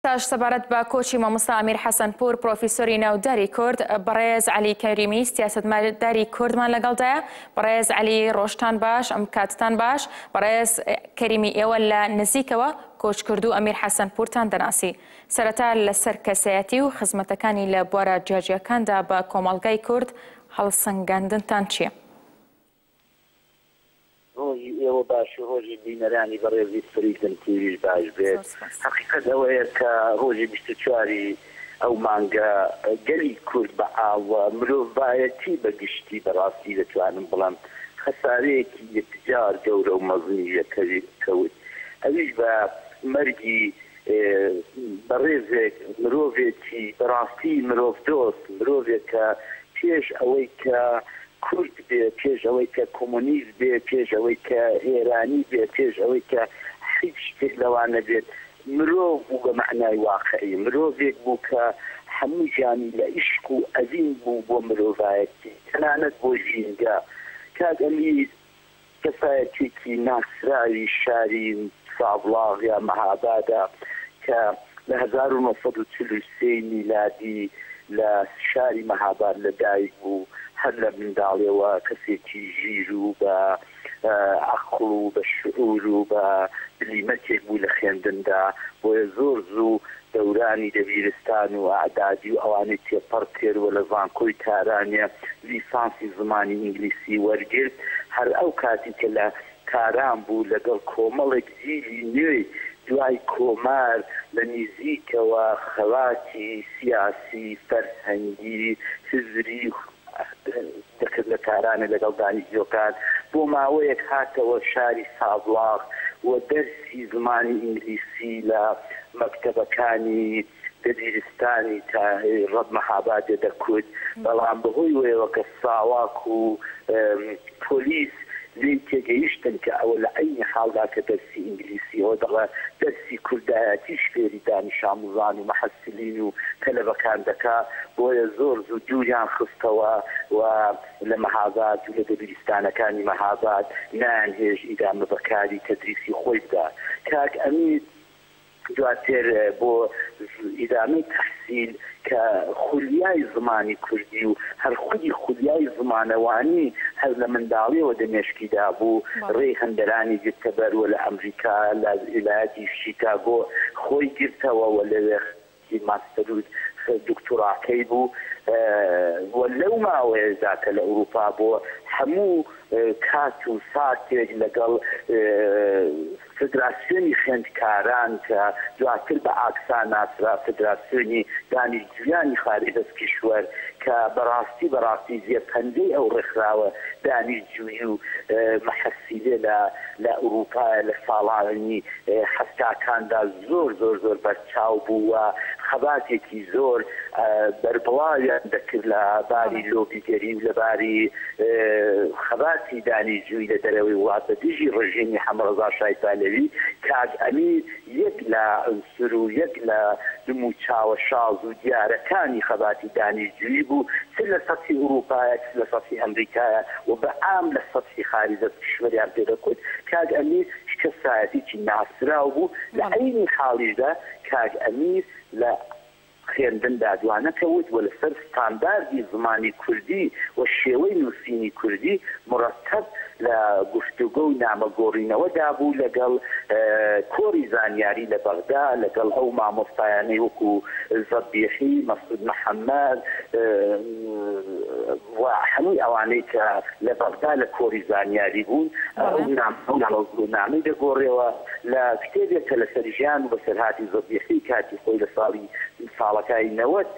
تاش سەبارەت بە کۆچی مامۆستا ئەمیر حەسەنپوور پرۆفیسۆری ناوداری کورد بەڕێز عەلی کەریمی سیاسەتمەداری کوردمان لەگەڵدایە بەڕێز عەلی ڕۆژتان باش ئەم کاتتان باش بەڕێز کەریمی ئێوە لە نزیکەوە کۆچکردوو ئەمیر حەسەنپوورتان دەناسی سەرەتا لەسەر کەسایەتی و خزمەتەکانی لە بوارە جیاجیاکاندا بە کۆمەڵگای کورد هەڵسەنگاندنتان چییە؟ ڕۆژی ئێوە باش و ڕۆژی بینەرانی بەڕێزی سپریتم تیڤیش باش بێت، هەقیقەت ئەوەیە کە ڕۆژی بیست و چوار ی ئەو مانگە گەلی کورد بە عام و مرۆڤایەتی بە گشتی بەڕاستی دەتوانم بڵێم خەسارەیەکی یەکجار گەورە و مەزنی لێ کەوت ئەویش بە مەرگی بەڕێزێک مرۆڤێکی بەڕاستی مرۆڤ دۆست، مرۆڤێک کە پێش ئەوەی کە کورد بێ، پێش ئەوەی کە کۆمۆنیست بێ، پێش ئەوەی کە ئێرانی بێ، پێش ئەوەی کە حیچ شتێک لەوانە بێت، مرۆڤ بوو بە مەعنای واقعی، مرۆڤێک بوو کە هەموو ژیانی لە ئیشق و ئەوین بوو بۆ مرۆڤایەتی، تەنانەت بۆ ژینگە. کاک ئەمیر کەسایەتیەکی ناسراوی شاری سابڵاغ یا مەهابادە کە لە هەزار و نۆ سەد و چل و سێ ی میلادی لە شاری مەهاباد لە دایک بوو هەر لە منداڵیەوە کەسێکی ژیر و بە ئەقڵ و بە شعور و بە بلیمەتێک بوو لە خوێندندا بۆیە زۆر زوو دەورانی دەبیرستان و ئەعدادی و ئەوانەی تێپەڕ کرد و لە زانکۆی تارانێ لیسانسی زمانی ئینگلیسی وەرگرت، هەر ئەو کاتی کە لە تاران بوو لەگەڵ کۆمەڵێک جیلی نوێی دوای کۆمار لە نیزیکەوە خەباتی سیاسی، فەرهەنگی، هزری و. دەکرد لە تارانێ لەگەڵ دانیشتووەکان بۆ ماوەیەک هاتەوە شاری سابڵاغ و دەرسی زمانی ئینگلیسی لە مەکتەبەکانی دەبیرستانی تاهیڕەب مەهابادێ دەکرد بەڵام بەهۆی وەیەوە کە ساواک و پۆلیس لێی تێگەیشتن کە ئەوە لە عەینی حاڵدا کە دەرسی ئینگلیسییەوە دەڵێ، دەرسی کوردایەتیش فێری دانیشاموزان و محسلین و تەلەبەکان دەکا، بۆیە زۆر زوو دووریان خستەوە و لە مەهاباد و لە دەبیرستانەکانی مەهاباد نایانهێشت ئیدامە بە کاری تەدریسی خۆی بدا. کاک ئەمیر. دواتر بۆ ئیدامەی تەحسیل کە خولیای زمانی کوردی و هەر خودی خولیای زمانەوانی هەر لە منداڵیەوە دە مێشکی دابوو ڕێی هەندەرانی گرتەبەر و لە ئەمریکا لە ئیلایەتی شیکاگۆ خۆی گرتەوە و لەوێ هی ماستەر و دوکتوراکەی بوو و لەو ماوەیەشدا کە لە ئورووپا بوو هەموو کات و ساتێک لەگەڵ فدراسیۆنی خوێندکاران کە دواتر بە ئاکسا ناسرا، فدراسیۆنی دانیشتوویانی خاربەس کیشوەر، کە بە ڕاستی بە ڕاستی جێ پەنجەی ئەو ڕێکخراوە دانیشتجووی و محەسیلە لە ئورووپایە لە ساڵانی حەفتاکاندا زۆر زۆر زۆر چاو بوو و خەباتێکی زۆر بەربڵاویان دەکرد لە باری لۆبیگەری و لە باری خەباتی دانی جووی لە دەرەوەی وڵات بە دژی ڕژیمی حەمەڕەزا شای پەهلەوی کاک ئەمیر یەک لە عنسر و یەک لە دم و چاوە شاز و دیارەکانی خەباتی دانی جووی بوو چ لە سەتحی ئورووپایە چ لە سەتحی ئەمریکایە و بە عام لە سەتحی خاریجە پشوەریان پێ دەکوت کاک ئەمیر کەسایەتیکی ناسراو بوو لە عەینی حاڵیشدا کاک ئەمیر لە خوێندندا دوانەکەوت و لەسەر ستانداردی زمانی کوردی و شێوەی نووسینی کوردی موڕەتەب لە گفتوگۆ و نامە گۆڕینەوەدا بوو لەگەڵ کۆڕی زانیاری لە بەغدا لەگەڵ ئەو مامۆستایانەی وەکوو زەبیحی، مەسعود محەمەد، و هەمووی ئەوانەی کە لە بەغدا لە کۆری زانیاری بوون ئەو نامە و گووتنامەی دەگۆرێەوە لە کتێبێک کە لە سەر ژیان و بەسەرهاتی زەبیحی کاتی خۆی لە ساڵی ساڵەکای نەوەد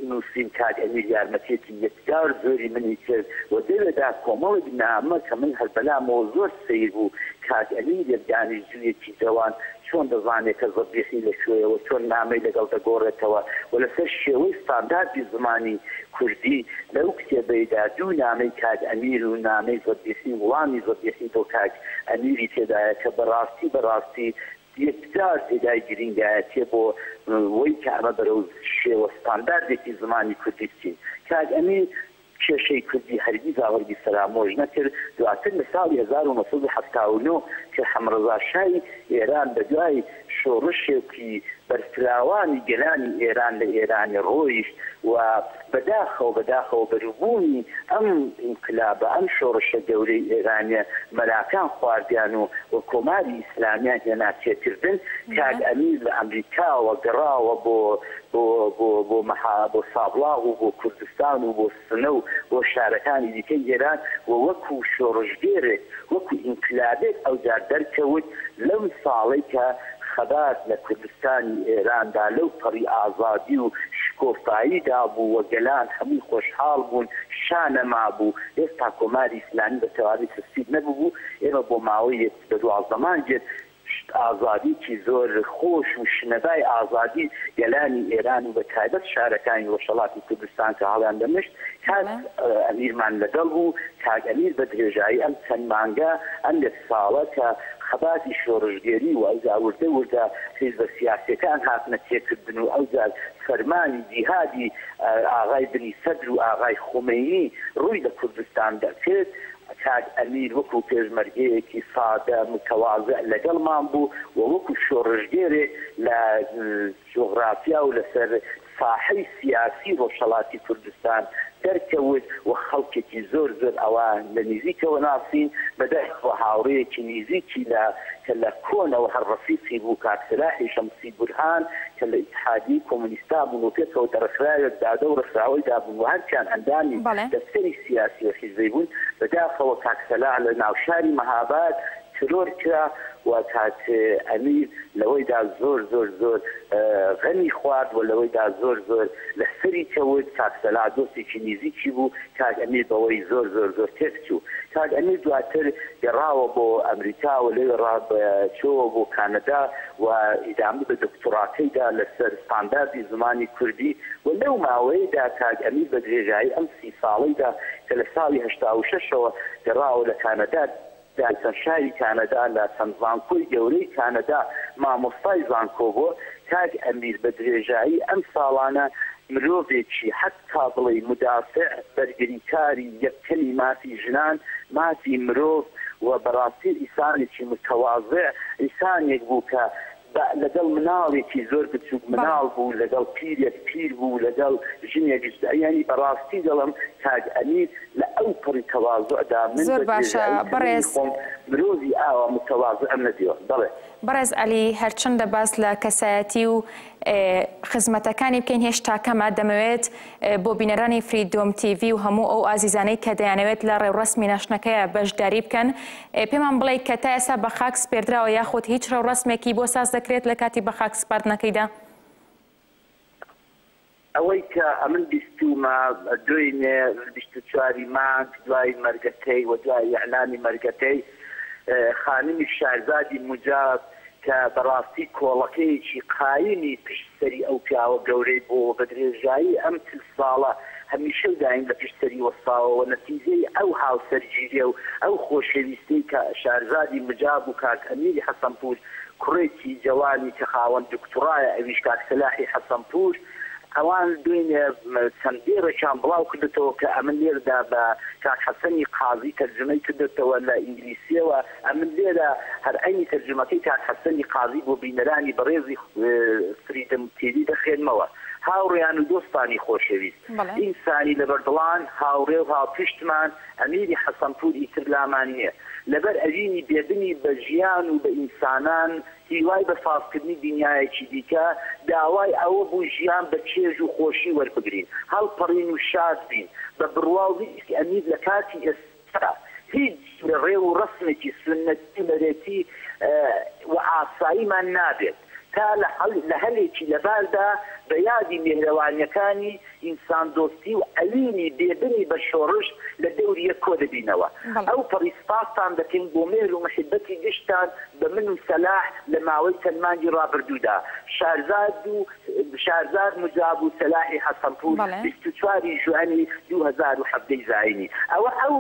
نووسیم کاک ئەمیر یارمەتیەکی یەکجار زۆری منی کرد و دەوێ دا کۆمەڵێک نامە کە من هەر بەلامەوە زۆر سەیر بوو کاک ئەمیر یەک دانیشجوویەکی جەوان چۆن دەزانێت کە زەبیحی لە کوێیە و چۆن نامەی لەگەڵ دەگۆڕێتەوە و لەسەر شێوەی ستانداردی زمانی کوردی لەو کتێبەیدا دوو نامەی کاک ئەمیر و نامەی زەبیحی و وڵامی زەبیحی بۆ کاک ئەمیری تێدایە کە بە ڕاستی بە ڕاستی یەکجار جێگای گرینگایەتیە بۆ وەی کە ئەمە بەرەو شێوە ستانداردێکی زمانی کوردی بچین کاک ئەمیر کێشەی کوردی هەرگیزا هەرگیز فەرامۆش نەکرد، دواتر لە ساڵی هەزار و نۆ سەد و حەفتا و نۆ کە حەمەڕەزا شای ئێران بە دوای شۆڕشێکی بەرفراوانی گەلانی ئێران لە ئێرانی ڕۆیشت و بە داخەوە بە داخەوە بەروبوومی ئەم ئینقلابە ئەم شۆڕشە گەورەی ئێرانیە مەراکان خواردیان و و کۆماری ئیسلامیان هێنا تێکردن کاک ئەمیر لە ئەمریکاوە گەڕاوە بۆ بۆ بۆ بۆ مەحا بۆ سابڵاغ و بۆ کوردستان و بۆ سنە و بۆ شارەکانی دیکەی ئێران و وەکو شۆڕشگێرێک وەکو ئینقلابێک ئەوجار دەرکەوت لەم ساڵەی کە خەبات لە کوردستانی ئێراندا لەو پەڕی ئازادی و شکۆفاییدا بوو و گەلان هەمووی خۆشحاڵ بوون شا نەمابوو هێستا کۆماری ئیسلامی بە تەواوی تەسفیر نەببوو ئێمە بۆ ماوەی یەک بە دوازدە مانگێک شت ئازادیی زۆر خۆش و شنەبای ئازادی گەلانی ئێران و بە تایبەت شارەکانی ڕۆژهەڵاتی کوردستان کە هەڵیان دەمشت کاک ئەمیرمان لەگەڵ بوو کاک ئەمیر بە درێژایی ئەم چەند مانگە ئەم یەک ساڵە کە خەباتی شۆڕشگێری و ئەوجا وردە وردە حیزبە سیاسیەکان هاتنە تێکردن و ئەوجار فەرمانی جیهادی ئاغای بنی سەدر و ئاغای خومەینی ڕووی لە کوردستان دەکرد کاک ئەمیر وەکو پێشمەرگەیەکی سادە متەوازع لەگەڵمان بوو و وەکو شۆڕشگێرێک لە جوغرافیا و لەسەر ساحەی سیاسی ڕۆژهەڵاتی کوردستان دەرکەوت و خەڵکێکی زۆر زۆر ئەوا لە نیزیکەوە ناسین، بەداخەوە هاوڕێیەکی نیزیکی لە کە لە کۆنەوە هەر ڕەفیقی بوو کاک سەلاحی شەمسی بورهان کە لە ئیتحادیەی کۆمۆنیستا بوون و پێکەوە دەڕێکخراوێک دادە و ڕێکخراوەی دابوون و هەرچیان ئەندامی بەڵێ. دەفتەری سیاسی و حیزبی بوون، بەداخەوە کاک سەلاح لە ناوشاری مەهاباد ترۆر کرا و کاک ئەمیر لەوەیدا زۆر زۆر زۆر غەمی خوارد و لەوەیدا زۆر زۆر لەسەری کەوت، کاک سەلاح دۆستێکی نیزیکی بوو، کاک ئەمیر بەوەی زۆر زۆر زۆر تێکچوو. کاک ئەمیر دواتر گەڕاوە بۆ ئەمریکا و لەوێڕا چۆوە بۆ کانەدا و ئیدامە بە دۆکتۆراکەیدا لەسەر ستانداردی زمانی کوردی و لەو ماوەیەیدا کاک ئەمیر بە درێژایی ئەم سی ساڵەیدا کە لە ساڵی هەشتا و شەش ەوە گەڕاوە لە کانەدا دا چەند شاری کانەدا لە چەند زانکۆی گەورەی کانەدا مامۆستای زانکۆ بووە کاک ئەمیر بە درێژایی ئەم ساڵانە مرۆڤێکی حەتا بڵێی مدافع بەرگریکاری یەکەمی مافی ژنان مافی مرۆڤ و بەڕاستی ئیسانێکی متواضع ئیسانێک بوو کە بە لەگەڵ مناڵێکی زۆر بچوک مناڵ بوو لەگەڵ پیرێک پیر بوو لەگەڵ ژنێک ژ یانی بەڕاستی دەڵم کاک ئەمیر لە ئەو پەڕی تەوازوعدا من بە درێژایی تەمەنی خۆم مرۆڤی ئاوا متەوازعم نەدیوە بەڵێ. بەڕێز عەلی هەرچەندە باس لە کەسایەتی و خزمەتەکانی بکەین هێشتا کەمە دەمەوێت بۆ بینەرانی فریدۆم تیڤی و هەموو ئەو ئازیزانەی کە دەیانەوێت لە ڕێوڕەسمی ناشتنەکەیە بەشداری بکەن پێمان بڵێ کە تا ئێستا بە خاک سپێردراوە یاخود هیچ ڕێوڕەسمێکی بۆ ساز دەکرێت لە کاتی بە خاک سپاردنەکەیدا؟ ئەوەی کە ئەمن بیستوومە دوێنێ بیست و چواری مانگ دوای مەرگەکەی و دوای ئیعلامی مەرگەکەی خانمی شارزادی موجاب کە بەڕاستی کۆڵەکەیەکی قایمی پشت سەری ئەو پیاوە گەورەی بووە و بە درێژایی ئەم چل ساڵە هەمیشە و دایم لە پشت سەری وەستاوە و نەتیجەی ئەو هاوسەرگیریی و ئەو خۆشەویستیی کە شارزادی مجاب و کاک ئەمیری حەسەنپوور کوڕێکی جەوانی کە خاوەن دوکتوڕایە ئەویش کاک سەلاحی حەسەنپوور ئەوان دوێنێ چەند دێڕێکیان بڵاو کردۆتەوە کە ئەمن لێردا بە کاک حەسەنی قازی تەرجومەی کردۆتەوە لە ئینگلیسییەوە. ئەمن لێرە هەر عەینی تەرجومەکەی کاک حەسەنی قازی بۆ بینەرانی بەڕێزی فریدم تیڤی دەخوێنمەوە، هاوڕێیان و دۆستانی خۆشەویست، ئینسانی لەبەردڵان، هاوڕێ و هاوپشتمان، ئەمیری حەسەنپوور ئیتر لامان نییە، لەبەر ئەوینی بێدنی بە ژیان و بە ئینسانان، هیوای بە سازکردنی دنیایەکی دیکە، داوای ئەوە بوو ژیان بە چێژ و خۆشی وەربگرین، هەڵپەڕین و شاد بین، بە بڕوا و ویستی ئەمیر لە کاتی ئێستا، کە هیچ جورە ڕێ و ڕەسمێکی سوننەتی و نەرێتی و ئاساییمان نابێت تا لە هەلێکی لەباردا بە یادی میهرەوانیەکانی، ئینسان دۆستی و ئەوینی بێ بنی بە شۆڕش لە دەوری یەک کۆ دەبینەوە. ئەو پەڕی سپاستان دەکەین بۆ مێهر و محیبەتی گشتتان بە من و سەلاح لە ماوەی چەند مانگی ڕابردوودا. شارزاد و شارزاد مجاب و سەلاحی حەسەنپوور بیست و چوار ی ژوئەنی دوو هەزار و حەڤدە ی زایینی ئەوە ئەو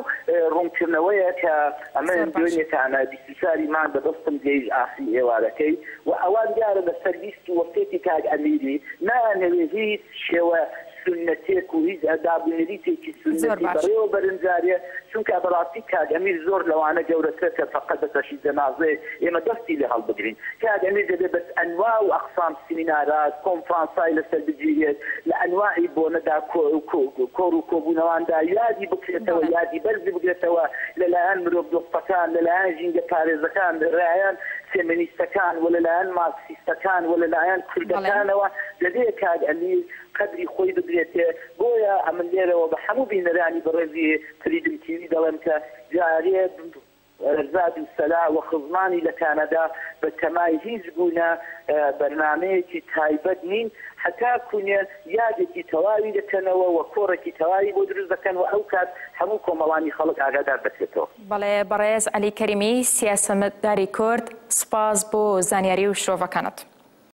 ڕوونکردنەوەیە کە ئەمن دوێنێ تانە بیست و چوار ی مانگ بەدەستم گەیشت ئاخری ئێوارەکەی و ئەوان دیارە لەسەر ویست و وەسیەتی کاک ئەمیری نایانەوێ هیچ شێوە سونەتێک و هیچ ئەداب و نەریتێکی سونەتی بەڕێوە بەرن جارێ چونکا بەڕاستی کاک ئەمیر زۆر لەوانە گەورەترە کە فەقەت بە بەشی جەنازەیەک ئێمە دەستی لێ هەڵبگرین کاک ئەمیر دەبێ بە ئەنوا و ئەقسام سیمینارا کۆنفرانسای لەسەر بگیرێت لە ئەنواعی بۆنەدا کۆڕ و کۆبوونەواندا یادی بکرێتەوە یادی بەرزی بگرێتەوە لە لایەن مرۆڤ دۆستەکان لە لایەن ژینگە پارێزەکان لە لایەن فێمینیستەکان و لە لایەن مارکسیستەکان و لە لایەن کوردەکانەوە دەبێ کاک ئەمیر قەدری خۆی بدرێتێ، بۆیە ئەمن لێرەوە بە هەموو بینەرانی بەڕێزی فریدم تیوی دەڵێم کە جارێ زاد و سەلا و خزمانی لە کانادا بە تەمای هیچ بوونە بەرنامەیەکی تایبەت نین هەتاکوو نێ یادێکی تەواوی دەکەنەوە و کۆڕێکی تەواوی بۆ دروست دەکەن و ئەو کات هەموو کۆمەڵانی خەڵک ئاگادار دەکرێتەوە. بەڵێ بەڕێز عەلی کەریمی سیاسەتمداری کورد، سوپاس بۆ زانیاری و شرۆڤەکانت.